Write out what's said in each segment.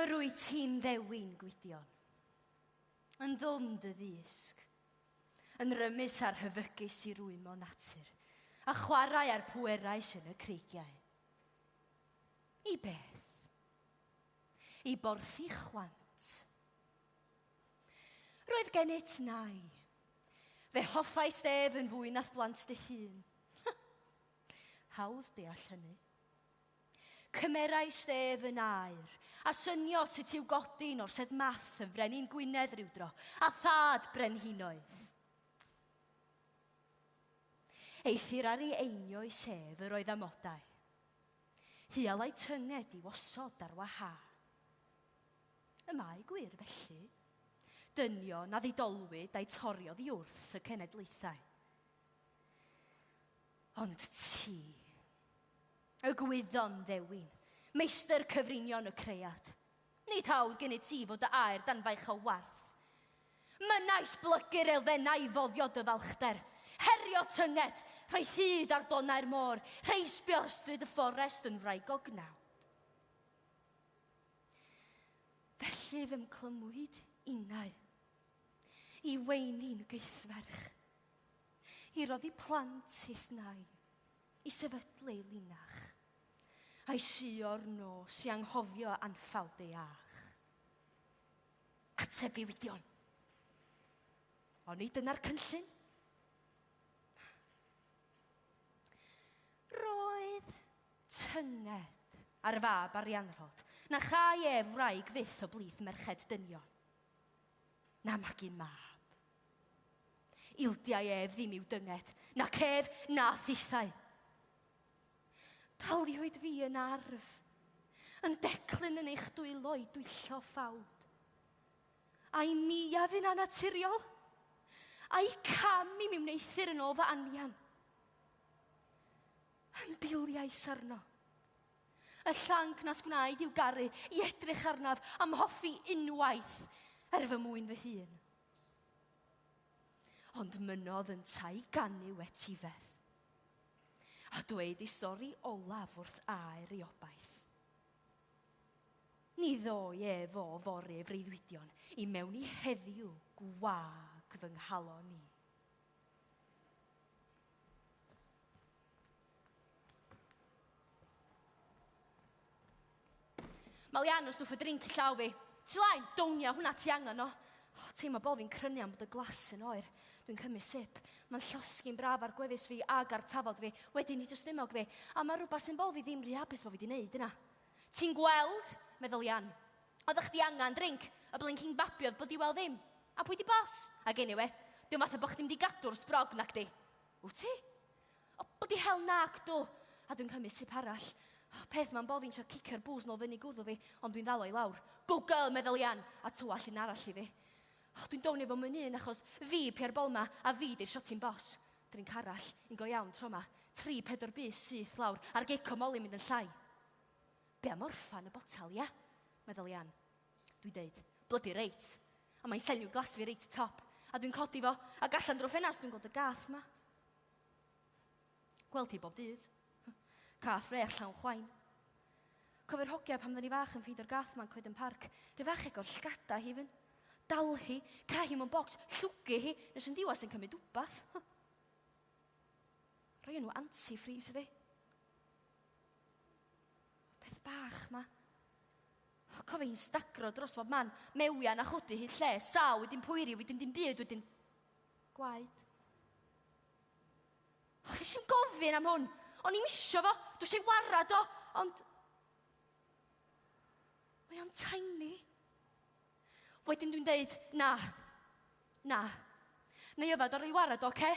Yr wyt ti'n ddewin, Gwydion, yn ddwm dy ddisg, yn rymus ar hyfygus i rwymo natur, a chwarae ar pwerau sy'n y creigiau. I beth? I borthi chwant. Roedd gennyt nai. Fe hoffais ef yn fwy nath blant dy hun. Hawdd deall hynny. Cymerais ef yn air, a synio sut i'w godi yn orsedd math yn frenin Gwynedd rywdro, a thad brenhinoedd. Eithr ar ei einio'i sef yr oedd amodau. Hialai tynged i'w osod ar waha. Y mae gwir, felly, dynion a ddidolwyd a'u tori oddi wrth y cenedlaethau. Ond ti, y gwyddon ddewin, meistr cyfrinion y cread, nid hawdd gennyt ti fod dy air dan faich o warth. Mynais blygu'r elfennau i foddio dy falchder, herio tynged, rhoi hyd ar donau'r môr, rheisbio ar stryd y fforest yn wraig o gnawn. Felly fy mclymwyd innau i weini'n gythferch, i roddi plant i'th nai, i sefydlu linach, a'i sio'r nos i anghofio anffawd ei ach. Ateb ddiwydion! Oni dyna'r cynllun? Roedd tynged ar y fab Arianrhod na châi ef wraig fyth o blith merched dynion, na magu mab. Ildiai ef ddim i'w dynged, na cef na thithau. Daliwyd fi yn arf, yn declyn yn eich dwylo i dwyllo ffawd. Ai mi a fi'n anaturiol? Ai cam i mi wneuthur yn ôl fy anian? Yn biliais arno. Y llanc nas gwnaed i'w garu i edrych arnaf am hoffi unwaith ar fy mwyn fy hun. Ond mynodd yn tai ganu wetifedd. A dweud ei stori olaf wrth aer ei obaith. Ni ddoi e fo fore freuddwydion i mewn i heddiw gwag fy nghalon i. Mae Lian yn stwff y drink i llaw fi. Ti lain, downia hwnna ti angen o. Oh, teimlo bod fi'n crynu am bod y glas yn oer. Dwi'n cymryd sip. Mae'n llosgi'n braf ar gwefus fi ag ar tafod fi. Wedyn ni dystumog fi. A mae rhywbeth sy'n bod fi ddim rhy hapus bod fi wedi wneud yna. Ti'n gweld? Meddwl Ian. Oeddech chdi angan drink? Y blinking babi oedd blydi wel ddim. A pwy di boss? Ag anyway, diom fatha bo chdi mynd i gadw'r sbrog, nacdi? Wt ti? O, blydi hell nac dw! A dwi'n cymryd sip arall. O, peth ma'n bo fi'n trio cicio'r booze nôl fyny gwddw fi, ond dwi'n ddal o i lawr. Go girl, medda Lian, a tywall un arall i fi. O, dwi'n down efo myn un achos fi pia'r bol ma, a fi di'r shotting boss. Drink arall, un go iawn tro ma. Tri, pedwar bys syth lawr, a'r gic o Molly mynd yn llai. Be am orffan y botel, ia? meddwl i Ann. Dwi'n deud, Blydi reit! a mae'n llenwi glas fi reit top, a dwi'n codi fo, a gallan drwy ffenast dwi'n gweld y gath ma. Gweld hi bob dydd. Cath frech llawn chwain. Cofio'r hogia pan ddyn ni fach yn ffeindio'r gath ma'n coed yn parc. Rhyw fach ego'r llgada hi fyn. Dal hi, ca hi mewn bocs, llwgu hi, nes yn diwas yn cymryd wbath. Roi nhw anti-freeze fi. Peth bach ma. O, cofio hi'n stagro dros bob man, mewian a chodi hyd lle, sal wedyn poeri, wedyn dim byd, wedyn... Gwaed. O, chdi sy'n gofyn am hwn. O'n i'n isio fo, dwi eisiau ei warad o, ond... Mae o'n tiny. Wedyn dwi'n deud, na, na. Neu yfed o roi warad, oce? Okay?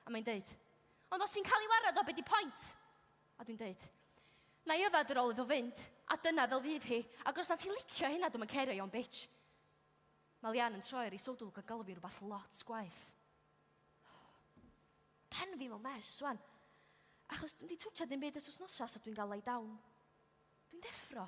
A mae'n deud, ond os ti'n cael ei warad o, be di pwynt? A dwi'n deud, na i yfed ar ôl iddo fynd, a dyna fel fydd hi, ac os na ti'n licio hynna, dwi'n cario i o'n bitch. Mae Lian yn troi ar ei sodwl gan galw fi rhywbeth lot gwaith. Pen fi mewn mes, swan. Achos dwi'n di twtio ddim byd os wsnosa, so dwi'n gael lay down. Dwi'n deffro.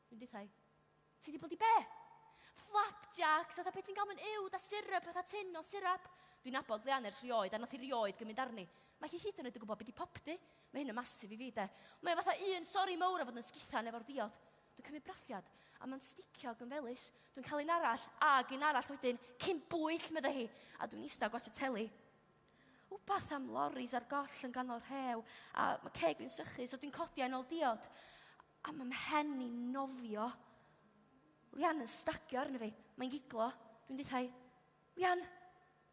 Dwi'n dithau. Ti di bod i be? Flapjacks, fatha pe ti'n cael mynd uwd a syrup, fatha tin o syrup. Dwi'n nabod Leanne ers rioed, a nath i rioed gymryd arni. Mae hi hyd yn oed yn gwybod beth di popdy. Mae hyn yn masif i fi, de. Mae fatha un sori mowr a fod yn sgithan efo'r diod. Dwi'n cymryd brathiad, a mae'n sticio ag yn felus. Dwi'n cael un arall, ag un arall wedyn, cyn bwyll, meddai hi, a dwi'n eistedd a gwachio teli. Wbath am loris ar goll yn ganol rhew, a mae ceg fi'n sychu, so dwi'n codi a'n ôl diod. A mae mhen i'n nofio. Lian yn stagio arno fi. Mae'n giglo. Dwi'n dithau. Lian,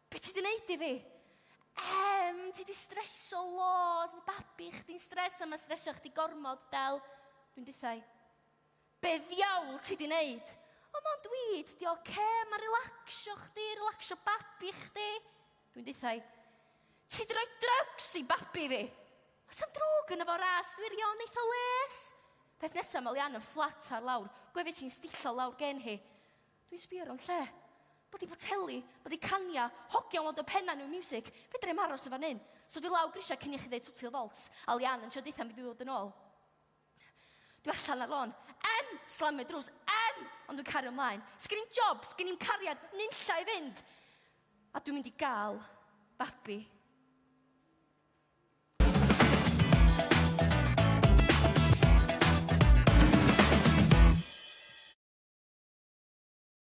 be ti di wneud i fi? Em, ti di streso loads. Mae babi chdi'n stres a mae stresio chdi gormod, Del. Dwi'n dithau. Be ddiawl ti di wneud? O, mae'n dweud, di oce, okay. mae relaxio chdi, relaxio babi chdi. Dwi'n dithau. Ti di roi drugs i babi fi! Os am drwg yn efo ras wirion eitha les! Peth nesaf mae Lian yn fflat ar lawr, gwefus hi'n stillo lawr gen hi. Dwi'n sbio ro'n lle. Bod i boteli, bod i cania, hogion lod o penna new music, fedra i'm aros yn fan hyn. So dwi lawr grisiau cyn i chi ddeud twtio folt, a Lian yn trio dithau mi ddod yn ôl. Dwi allan ar lôn. Em! Slamio drws. Em! Ond dwi'n cario ymlaen. Sgen i'n job, sgen i'n cariad, nunlla i fynd. A dwi'n mynd i gael babi.